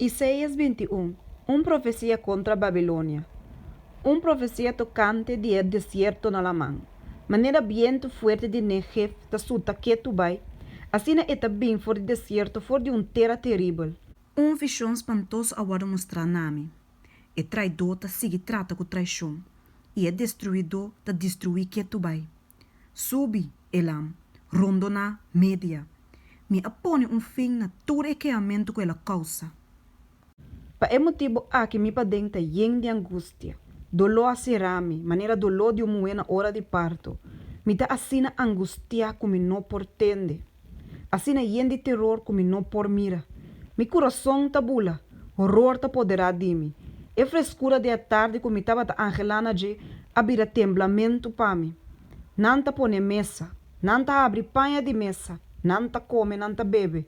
Isaias bintiun, un profesia kontra Babilonia. Un profesia tokante di e desierto na laman. Manera bientu fuerte di Negev ta suta ketu bai, asina e ta bin for di desierto, for di un tera teribel. Un vishon spantoso a wòrdu mostrá na mi. E traidó ta sigui trata ku traishon, i e destruidó ta destruí ketu bai. Subi e lam rondo na media. Mi a pone un fin na tur e keamentu ku el a kousa. Pa e motibu aki mi paden ta yen di angustia. Doló a sera mi, manera doló di un muhé na ora di parto. Mi ta asina angustiá ku mi no por tende. Asina yen di teror ku mi no por mira. Mi kurason ta bula, horor ta poderá di mi. E freskura di e tardi ku mi tabata anhelá na dje a bira temblamentu pa mi. Nan ta pone mesa, nan ta abri paña di mesa, nan ta kome, nan ta bebe.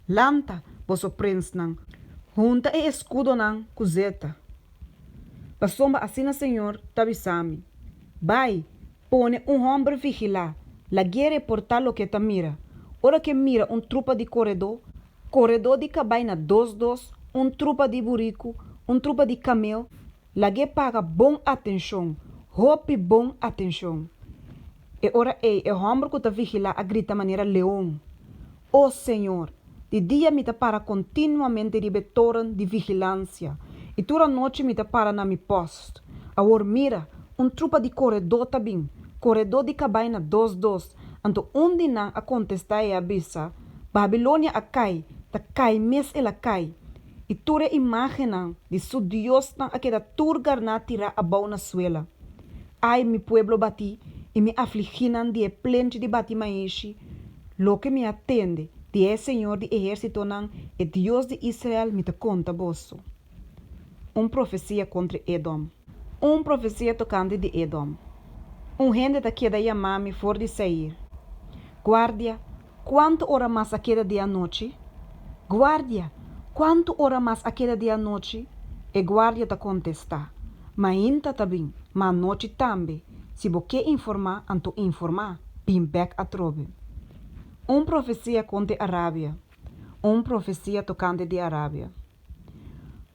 Lanta, boso prensnan! Hunta e eskudonan ku zeta. Pasobra asina Señor ta bisa mi, Bai, Pone un homber vigilá. Laguere por ta loke ta mira. Ora ke mira un trupa di koredó, koredó di kabaina dos dos, un trupa di buriku, un trupa di kamel, lag'é paga bon atenshon, hopi bon atenshon. E ora ei e homber ku ta vigilá a grita manera leon. O Señor, di dia mi ta para continuamente riba e toren di vigilancia, i tur anochi mi ta para na mi post. Awor mira, un trupa di coredo ta bin, coredo di cabaina dos dos, anto un di nan a contesta e a bisa, Babilonia a cai, ta cai mes el a cai, i tur e imagennan di su diosnan a keda tur garná tirá abou na suela. Ai mi pueblo batí, i mi afliginan di e plenchi di batí maishi, Loke mi a tende di e Señor di ehérsitonan, e Dios di Israel, mi ta konta boso. Un profesia kontra Edom. Un profesia tokante di Edom. Un hende ta keda yamá mi for di Seir. Guardia, kuantu ora mas a keda di anochi? Guardia, kuantu ora mas a keda di anochi? E guardia ta kontestá, Mainta ta bin, ma anochi tambe. Si bo ke informá, anto informá, bin bèk atrobe. Un profesia konte Arabia, un profesia tokante di Arabia.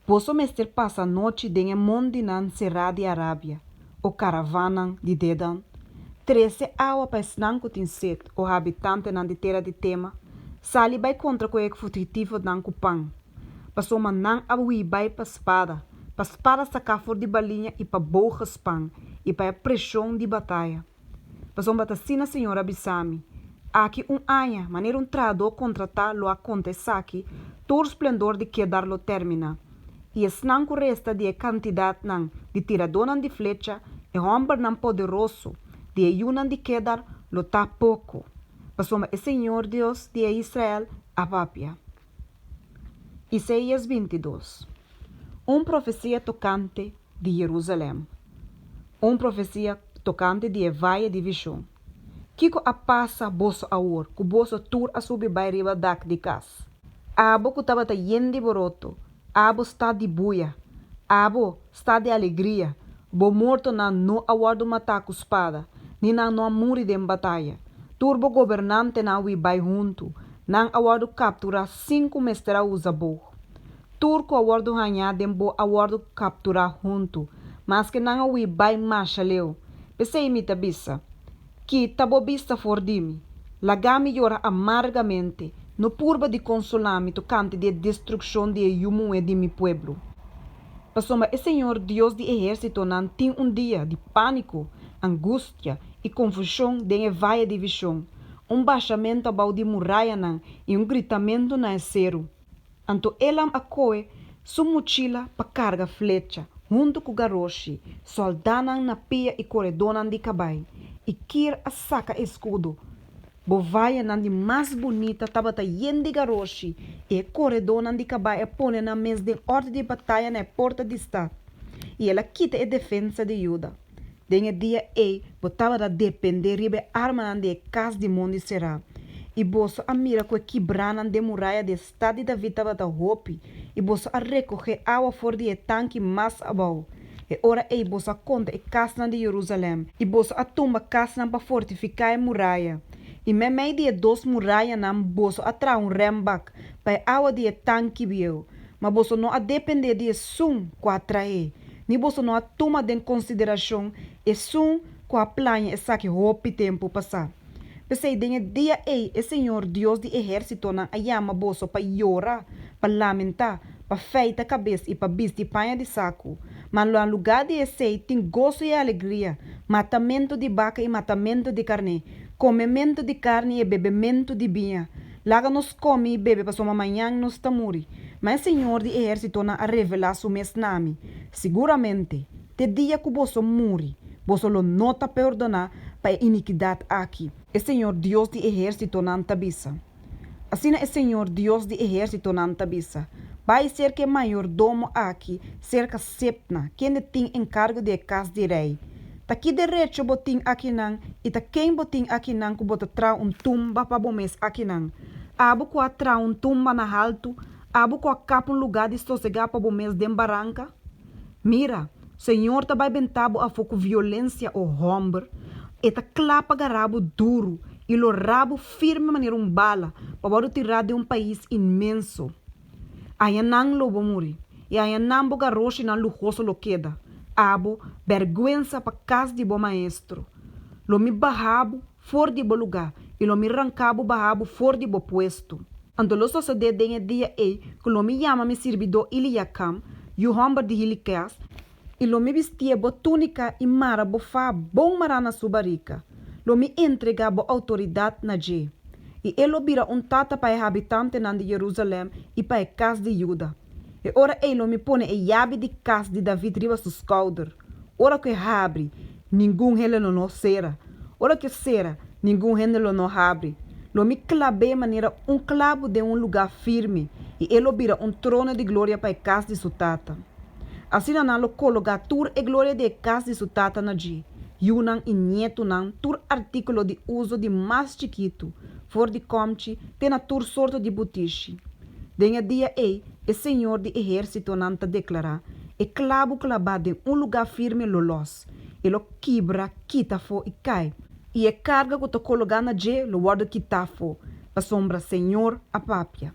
Boso mester pasa nochi den e mondinan será di Arabia, o karavanan di Dedan, trese awa pa esnan ku tin set, o habitantenan di tera di Tema, sali bai kontra ku e futigitifo nan ku pan. Pasobra nan a hui bai pa spada, pa spada saká for di baliña i pa bou gespan, i pa e preshon di bataya. Pasobra ta asina Señor a bisa mi, Aki un aña, manera un trahadó kontratá lo a konta esaki, tur splendor di kedar lo términa. I esnan ku resta di e kantidatnan di tiradónan di flecha, e hòmbernan poderoso, di e yunan di Kedar, lo ta poko, pasobra e Señor, Dios di e Israel, a papia. Isaias bintidos, un profesia tokante di Jerusalèm, un profesia tokante di e vaye di vishon. Kiko a pasa boso awor ku boso tur a subi bai riba dak di kas? Abo ku tabata yen di boroto Abo sta di buia. Abo sta di alegria. Bo mortonan no a wòrdu matá ku spada, ni nan no a muri den bataya. Tur bo gobernantenan wi bai huntu, nan a wòrdu kapturá sin ku mester a usa bo. Tur ku a wòrdu hañá den bo a wòrdu kapturá huntu, maske nan a wi bai masha leu. P'esei mi ta bisa, Kita bo bista for di mi. Lagami yora amargamente. No purba di consolami tocante di e destruccion di e yu muhé di mi pueblo. Pasobra e Señor Dios di ehercitonan tin un dia di pánico, angustia i confusion den e valle di vision, un bashamento abao di murayanan i un gritamento na e seru. Anto elam a koe su muchila pa karga flecha, huntu ku garoshi, sòldánan na pia i koredónan di kabai, i Kir a saka e skudo. Bovayanan di mas bunita tabata yen di garoshi, i e koredónan di kabai a pone nan mes den òrdu di bataya na e porta di stat, i el a kita e defensa di Yuda. Den e dia ei bo tabata dependé riba e armanan di e kas di mon di Será, i boso a mira ku e kibranan den muraya di e stat di David tabata hopi, i boso a rekogé awa for di e tanki mas abou. E ora ei boso a konta e kasnan di Yerusalèm, i boso a tumba kasnan pa fortifiká e muraya, i meimei di e dos murayanan boso a traha un rèmbak pa e awa di e tanki bieu, ma boso no a dependé di esun ku a traé, Mi boso no a tuma den konsideracion esun cu a plaña esaki hopi tempu pasá. P'esei den e dia ei e Señor Dios di ehercitonan a yama boso pa yora, pa lamentá, pa feita cabes i pa bisti paña di sacu. Ma na lugá di esei tin goso i alegria, matamentu di baca i matamentu di carné, comementu di carni i e bebementu di biña. Laga nos komi i bebe pasobra mañan nos ta muri. Ma e Señor di ehérsitonan a revelá su mes na mi, Siguramente, te dia ku boso muri, boso lo no ta perdoná pa e inikidat aki. E Señor Dios di ehérsitonan ta bisa, Asina e Señor Dios di ehérsitonan ta bisa, Bai serka e mayordomo aki, serka Sebna, kende tin enkargo di e kas di rei, Ta ki derecho bo tin akinan i ta ken bo tin akinan ku bo ta traha un tumba pa bo mes akinan? Abo ku a traha un tumba na haltu, abo ku a kap un lugá di sosegá pa bo mes den baranka? Mira, Señor ta bai bentá bo afó ku violensia, o hòmber. E ta kla pa gará bo duru i lo rá bo firme manera un bala, pa wòrdu tirá den un pais inmenso. Ayanan lo bo muri, i ayanan bo garoshinan luhoso lo keda. Abo bèrgwensa pa kas di bo maestro! Lo mi baha bo for di bo lugá, i lo mi ranká bo baha bo for di bo puesto. Anto lo sosodé den e dia ei ku lo mi yama mi sirbidó Iliakam, yu hòmber di Hilikèas, I lo mi bistié bo túnika i mara bo fá bon mará na su barika. Lo mi entregá bo outoridat na dje. I e lo bira un tata pa e habitantenan di Jerusalèm i pa e kas di Juda. E ora ei lo mi pone e yabi di kas di David riba su skouder. Ora ku e habri, ningun hende lo no sera. Ora ku e sera, ningun hende lo no habri. Lo mi klab'é manera un klabu den un lugá firme, i e lo bira un trono di gloria pa e kas di su tata. Asina nan lo kologá tur e gloria di e kas di su tata na dje, yunan i nietunan, tur artíkulo di uso di mas chikitu, for di kòmchi, te na tur sorto di butishi. Den e dia ei, e Señor di Ehérsitonan ta deklará, E klabu klabá den un lugá firme lo lòs, e lo kibra, kita afó i kai, i e karga ku ta kologá na dje lo wòrdu kitá afó, pasobra Señor a papia.